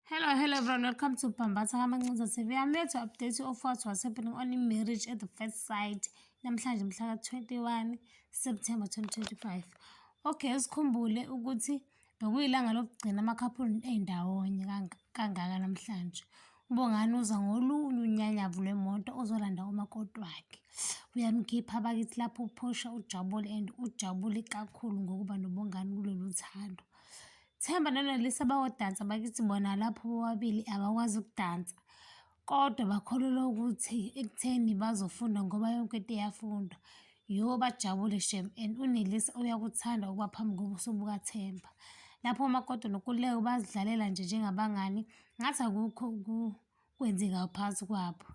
Hello, hello everyone. Welcome to Bambatha Kamancinza TV. I'm here to update you of what was happening on in marriage at the first sight. Namhlanje mhla 21 September 2025. Okay, sikhumbule ukuthi bekuyilanga lokugcina amakhaphuli endawonye kangaka namhlanje. Ubongani uza ngolunye unyanyavu lwemoto ozolanda umakoti wakhe. Uyamkhipha bakithi lapho uphosha ujabule and ujabule kakhulu ngokuba nobongani kulolu thando. Themba noNelisa bayodansa bakithi bona lapho bobabili abakwazi ukudansa kodwa bakholelwa ukuthi ekutheni bazofunda ngoba yonke into iyafundwa yho bajabule shem and unelisa uyakuthanda ukuba phambi kobuso bukathemba lapho umakoti nokuleko bazidlalela nje njengabangani ngathi akukho kwenzeka phansi kwabo.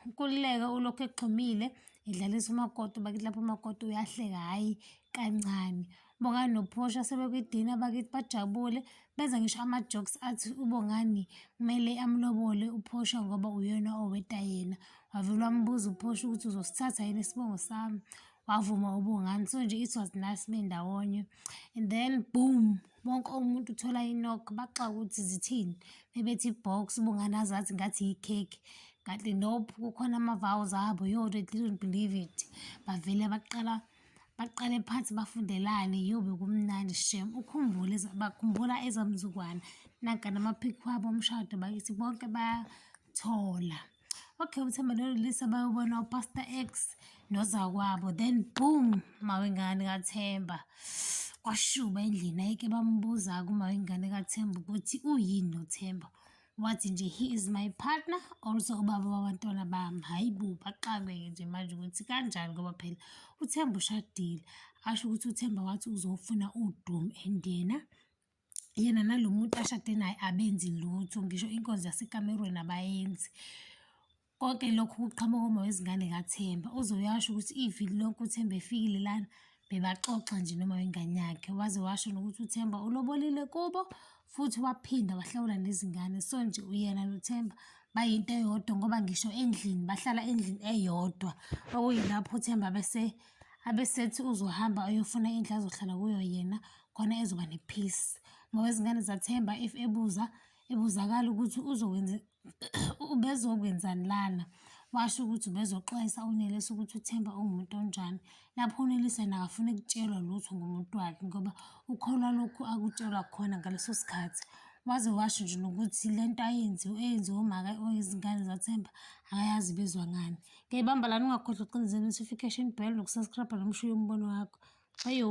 Nkululeko ulokhu egxumile edlalisa umakoti bakithi lapho umakoti uyahleka hhayi kancane. Bongani noPortia sebekwidina bakithi bajabule benza ngisho ama-jokes athi uBongani kumele amlobole uPortia ngoba uyena oweta yena. Wavele wambuza uPortia ukuthi uzosithatha yini isibongo sami wavuma uBongani so nje it was nice bendawonye and then boom Wonke umuntu uthola i-knock baxaka ukuthi zithini. Bebethi i-box ubungane azazi ngathi yikhekhe. Kanti nope kukhona ama-vows abo yo they didn't believe it. Bavele baqala baqale phansi bafundelane yo bekumnandi shem. Ukhumbule bakhumbula ezamzukwana. Nanka namaphikhi wabo omshado bakithi bonke bayathola. okay uthemba nolulisa bayobona upastor x nozakwabo then boom mawengane kathemba kwashuba endlini ayike bambuza kumawengane kathemba ukuthi uyini nothemba wathi nje he is my partner also ubaba wabantwana bami hhayi bo baxakeke nje manje ukuthi kanjani ngoba phela uthemba ushadile asho ukuthi uthemba wathi uzofuna udoom and yena yena nalo muntu ashade naye abenzi lutho ngisho inkonzo yasekamerweni abayenzi konke lokhu kuqhamuka uma wezingane kathemba uzoyasho ukuthi iviki lonke uthemba efikile lana bebaxoxa nje noma wengane yakhe waze washo nokuthi uthemba ulobolile kubo futhi waphinda wahlawula nezingane so nje uyena nothemba bayinto eyodwa ngoba ngisho endlini bahlala endlini eyodwa okuyilapho uthemba bese abesethi uzohamba ayofuna indlu azohlala kuyo yena khona ezoba ne-peace ngoba izingane zathemba if ebuza ebuzakala ukuthi uzokwenza ubezokwenzani lana washo ukuthi ubezoxwayisa unelisa ukuthi uthemba ungumuntu onjani lapho unelisa yena akafuni kutshelwa lutho ngomuntu wakhe ngoba ukholwa lokhu akutshelwa khona ngaleso sikhathi waze washo nje nokuthi le nto ayenziwe eyenziwe umaka oyizingane zathemba akayazi bezwa ngani Ngiyibamba lana ungakhohlwa ucinizela notification bell nokusubscribe nomshuyo umbono wakho. Ayo.